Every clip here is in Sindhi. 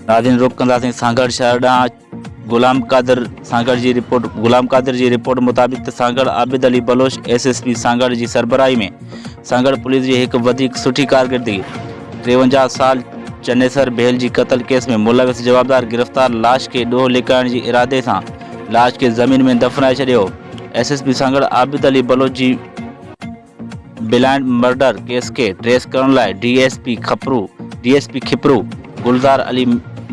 ناظرين رخ ڪنداسين سانگهڙ شهر ڏانهن غلام قادر سانگهڙ جي رپورٽ غلام قادر جي رپورٽ مطابق ته Sanghar Abid Ali Baloch S S P Sanghar جي سربراهي ۾ سانگهڙ پوليس جي هڪ وڌيڪ سٺي ڪارڪردگي ٽيونجاهه سال چنيسر ڀيل جي قتل ڪيس ۾ ملوث جوابدار گرفتار لاش کي ڏوهه لڪائڻ جي ارادي سان لاش کي زمين ۾ دفنائي ڇڏيو S S P Sanghar Abid Ali Baloch جي بلائنڊ مرڊر ڪيس کي ٽريس ڪرڻ لاء D S P Khipro D S P Khipro Gulzar Ali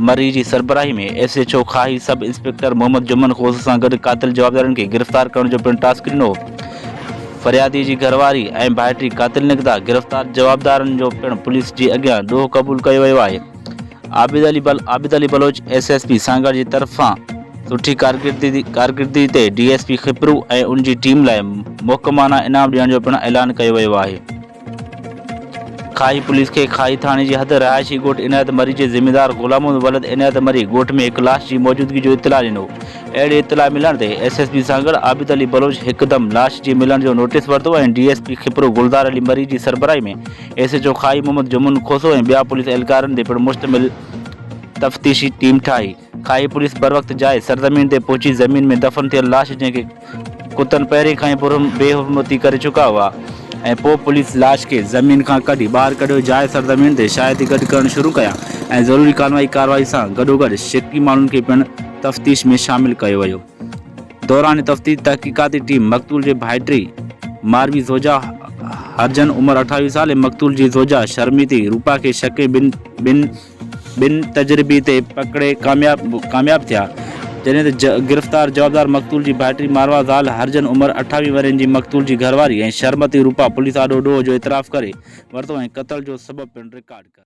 Marri جي سربراهي ۾ S H O Khahi sub inspector Muhammad Juman Khoso سان گڏ قاتل جوابدارن کي گرفتار ڪرڻ جو پڻ ٽاسڪ ڏنو فريادي جي گهرواري ۽ ڀائٽي قاتل نڪتا گرفتار جوابدارن جو پڻ پوليس جي اڳيان ڏوهه قبول ڪيو ويو آهي عابد علي بل Abid Ali Baloch S S P Sanghar جي طرفان سٺي ڪارڪردگي ڪارڪردگي تي ڊي ايس پي کپرو ۽ ان جي ٽيم لاء محڪمانه انعام ڏيڻ جو پڻ اعلان ڪيو ويو آهي کاهي پوليس کي کاهي ٿاڻي جي حد رهائشي ڳوٺ عنايت مري جي ذميدار غلام ولد عنايت مري ڳوٺ ۾ هڪ لاش جي موجودگي جو اطلاع ڏنو اهڙي اطلاع ملڻ تي S S P Sanghar Abid Ali Baloch هڪدم لاش جي ملڻ جو نوٽيس ورتو ۽ D S P Khipro Gulzar Ali Marri جي سربراهي ۾ S H O Khahi Muhammad Juman Khoso ۽ ٻيا پوليس اهلڪارن تي پڻ مشتمل تفتيشي ٽيم ٺاهي. خاهي پوليس بروقت جاء سرزمين تي پهچي زمين ۾ دفن ٿيل لاش جنهن کي ڪتن پهرين کان ئي برهم بي حرمتي ڪري چڪا هئا ۽ پوء پوليس لاش کي زمين کان ڪڍي ٻاهر ڪڍيو جاء سرزمين تي شاهدي گڏ ڪرڻ شروع ڪيا ۽ ضروري قانوني ڪارروائي سان گڏوگڏ شڪي ماڻهن کي پڻ تفتيش ۾ شامل ڪيو ويو. دوران تفتيش تحقيقاتي ٽيم مقتول جي ڀائٽي ماروي زوجا هرجن عمر اٺاويهه سال ۽ مقتول جي زوجا شرميتي روپا کي شڪي بن بن تجربي تي پڪڙي ڪامياب ڪامياب ٿيا جڏهن ته گرفتار جوابدار مقتول جي ڀائٽي ماروي زال هرجن عمر اٺاويهه ورهين جي مقتول جي گهرواري ۽ شرمتي روپا پوليس آڏو ڏوهه جو اعتراف ڪري ورتو ۽ قتل جو سبب پڻ رڪارڊ ڪري